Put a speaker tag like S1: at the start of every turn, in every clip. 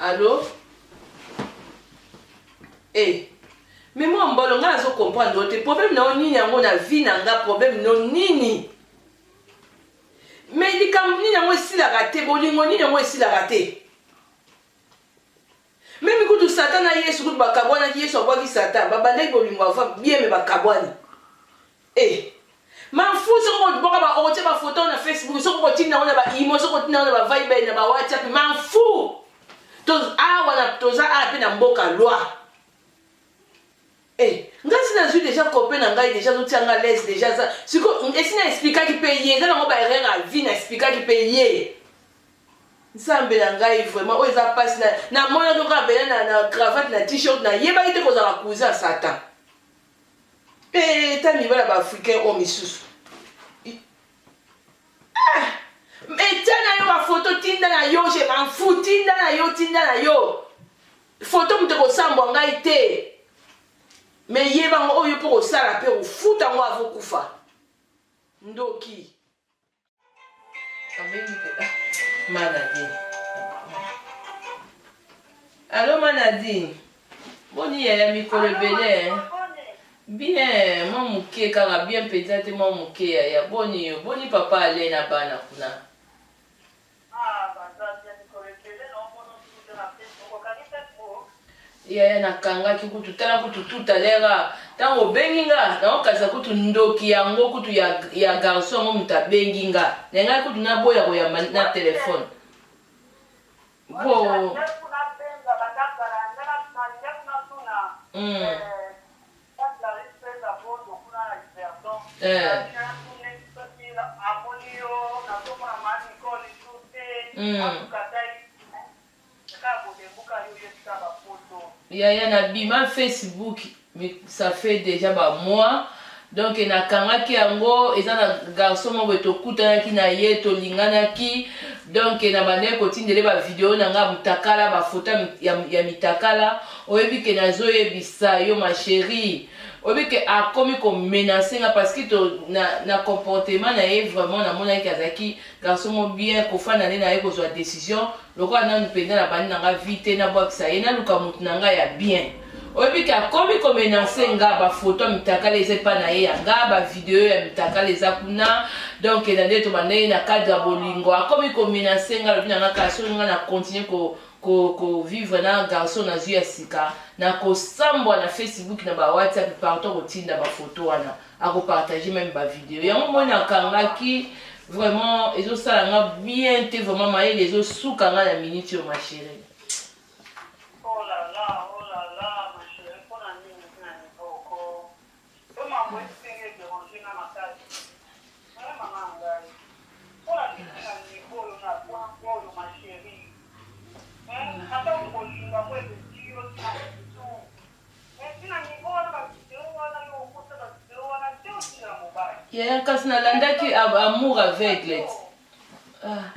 S1: Allô Eh mais moi mbolo nga nazo comprendre yo te problème na yo nini yango na vie na nga problème no nini mais likambo nini yango esilaka te bolingo nini yango esilaka te Meme kutu Satan na Yesu kutu bakabwanaki, Yesu abwaki Satan, babandaki bolingo avant bien me bakabwani. Eh, mafu soko boko ba okotia ba photo na Facebook, soko kotinda ngo na ba imo, soko kotinda ngo na ba Viber na ba WhatsApp, mafu. Toz awa na toza awa pe na mboka loi. Eh, nga si nazwi deja copain na ngai deja azotia nga lese deja aza siko esi na explikaki mpe ye eza nango baerreur ya vie na explikaki mpe ye nzambe na ngai vraiment oyo eza mpasi namonaki oka bela na, na cravate na t-shirt nayebaki te kozala cousin ya satan mpe eh, ta mibala baafricain oyo misusu ah! etia na yo bafoto tinda na yo je manfu tinda na yo tinda na yo Photo moto ekosambwa ngai te me yeba ngo oyo mpo kosala mpe ofuta ngo avokufa ndoki manadi alo manadi boni yaya mikolo ebele bien mwa moke kaka bien mpenza te mwa moke yaya boni yo boni papa ale na bana kuna Yaya nakangaki kutu tala kutu tout à l'heure ah, ntango obengi nga naokanisa kutu ndoki yango kutu ya, ya garçon yango moto abengi nga na ngai kutu naboya koyamba na telefone po mm. yaya na bima facebook ça fait déjà ba mois donc nakangaki yango eza na garçon moko tokutanaki na ye tolinganaki donc na bandaki kotindele bavideo na ngai ya motakala bafoto ya mitakala oyebi ke nazoyebisa yo ma cherie oyebi ke akomi komenase nga parce que to, na, na comportement na ye vraiment namonaki ke azalaki garçon mo bien kofanda nde na ye kozwa décision lokola nanu mpenza na bandi na nga vi te nabwakisa ye naluka motu na nga ya bien oyebi ke akomi komenase nga bafoto ya mitakala eza epa na ye ya nga bavideo ya mitakala eza kuna donk na nde tobandaki na cadre ya bolingo akomi komenase nga lobi na nga kasi oyo nga na continue ko ko ko vivre na garçon na zui ya sika na ko sambwa na Facebook na ba WhatsApp partout ko tinda ba photo wana ako partager même ba video yango moi na kangaki vraiment ezo sala nga bien te vraiment mayele ezo suka nga na minute yo ma chérie
S2: Yeah, kasi nalandaki
S1: amour aveugle
S2: ah.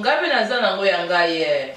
S1: ngai mpe naza nango ya ngai ye eh.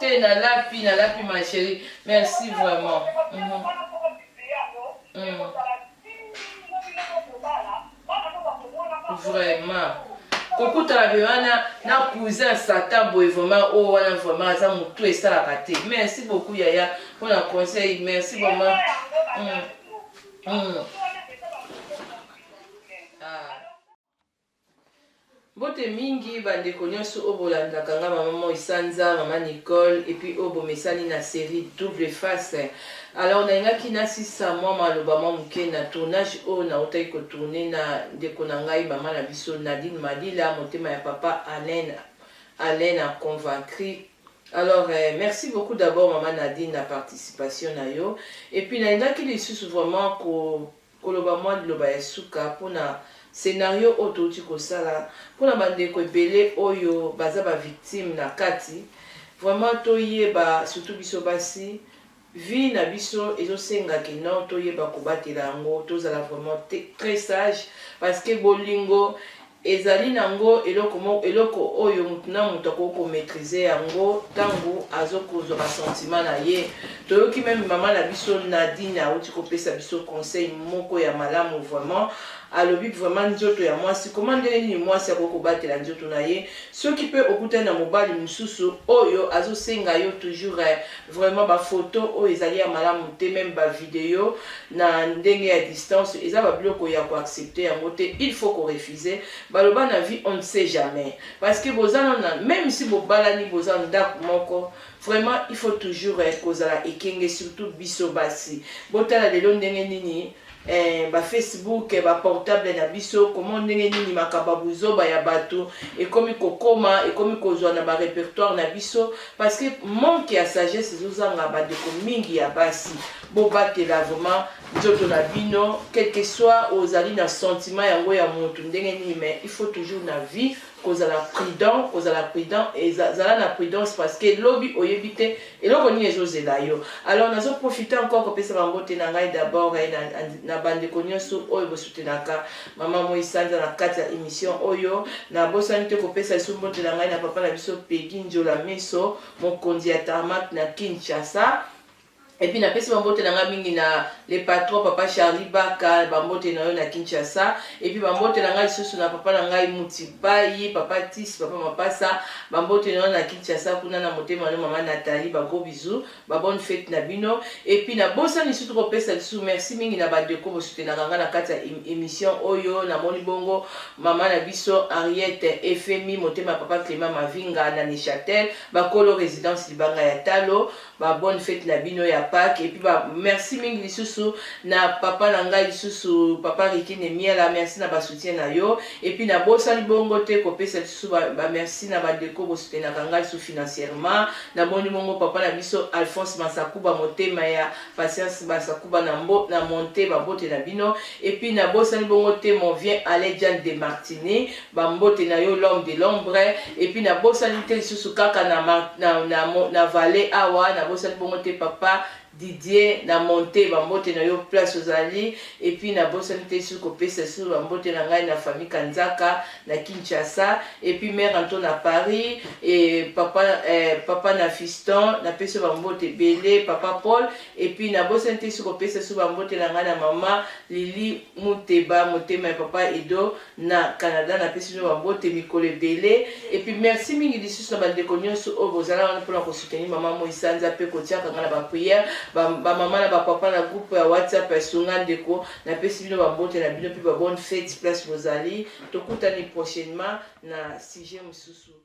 S1: te nalapi nalapi ma chérie merci vraiment mm -hmm. Vraiment. kokutana mpe wana na cousin satan boye vraiment oyo oh, wana vraiment aza motu esalaka te merci beaucoup yaya mpo na conseil merci vraiment mm. Mm. Ah. Mbote mingi ba ndeko nionso oyo bolandaka nga maman moi sanza maman Nicole epuis oyo bomesani na serie double face alors nalingaki nasisa mwa maloba mwa muke na tournage oyo nawutaki ko tourne na ndeko na ngai maman na biso Nadine Malila motema ya papa Alain Alain na convaincre alors eh, merci beaucoup d'abord maman Nadine na participation na yo epuis nalingaki lisusu vraiment ko Koloba mwa liloba ya suka mpo na scenario oyo touti kosala, mpo na bandeko ebele oyo baza ba victimes na kati, vraiment toyeba, surtout biso basi, vie na biso ezo senga que non toyeba kobatela yango, tozala vraiment tres sage, parce que bolingo. Ezali nango eloko moko eloko oyo mutu na mutu akoki ko maitriser yango tangu azo kozwa ba sentiment na ye. Toyoki meme mama na biso Nadine awuti ko pesa biso conseil moko ya malamu vraiment. Alobi que vraiment nzoto ya mwasi comment ndenge nini mwasi akoki ko batela nzoto na ye soki pe okutani na mobali mususu oyo azo senga yo toujours Vraiment ba photo oyo ezali ya malamu te meme ba video na ndenge ya distance eza ba biloko ya ko accepter yango te il faut ko refuser baloba na vie on ne sait jamais parce que boza na meme si bobalani boza ndaku moko vraiment il faut toujours eh, kozala ekenge surtout biso basi botala lelo ndenge nini eh, ba facebook ba portable na biso comment ndenge nini makambo ya buzoba ya bato ekomi kokoma ekomi kozwa na ba repertoire na biso parce que manque ya sagesse ezozanga bandeko mingi ya basi bobatela vraiment nzoto na bino quelque soit ozali na sentiment yango ya motu ndenge nini mais il faut toujours na vie kozala prudent kozala prudent eza zala na prudence parce que lobi oyebi te eloko nini ezozela yo alors nazo profiter encore kopesa bango te na ngai d'abord eh, na, na bandeko nyonso oyo bosutenaka mama moi sanza na kati ya émission oyo nabosani te kopesa lisusu mbote na ngai na papa na biso pegi njola meso mokonzi ya tarmak na kinshasa Et puis napesi bambote na nga mingi na le patron papa Charlie Baka bambote na yo na Kinshasa et puis bambote na nga lisusu na papa na ngai Mutipayi papa Tis papa Mapasa bambote na yo na Kinshasa kuna na motema na mama Nathalie ba gros bisous ba bonne fête na bino et puis na bosa lisusu kopesa lisusu merci mingi na ba deko bosutenaka nga na kati ya émission oyo na moni bongo mama na biso Henriette Efemi motema papa Clément Mavinga na Neuchâtel bakolo résidence libanga ya Talo ba bonne fete na bino ya Pâques et puis ba merci mingi lisusu na papa na ngai lisusu papa Rikine Miela merci na ba soutien na yo et puis na bosani bongo te kopesa lisusu ba, ba merci na ba ndeko bosutenaka ngai lisusu financièrement na moni bongo papa na biso Alphonse Masakuba motema ya patience Masakuba na mbo na monte babote na bino et puis na bosani bongo te mon vient Alain Jan de Martini Ba mbote na yo l'homme de l'ombre et puis na bosani te lisusu kaka na ma, na na, na vallée awa na bosani bongo te papa Didier na monte ba mbote na yo place ozali et puis na bosani te lisusu kopesa lisusu ba mbote na ngai na famille Kanzaka na Kinshasa et puis mère Anto na Paris et papa eh, papa na Fiston na pesa ba mbote bele papa Paul et puis na bosani te lisusu kopesa lisusu ba mbote na ngai na mama Lili Muteba motema ya papa Edo Na Canada napesi bino ba mbote mikolo ebele et puis merci mingi lisusu na ba ndeko nionso oyo bozala wana pona ko soutenir maman moi sanza pe kotiaka nga na ba prière ba ba maman na ba papa na groupe ya WhatsApp ya sunga ndeko napesi bino ba mbote na bino pe ba bonne fete place bozali tokutani prochainement na sujet mususu.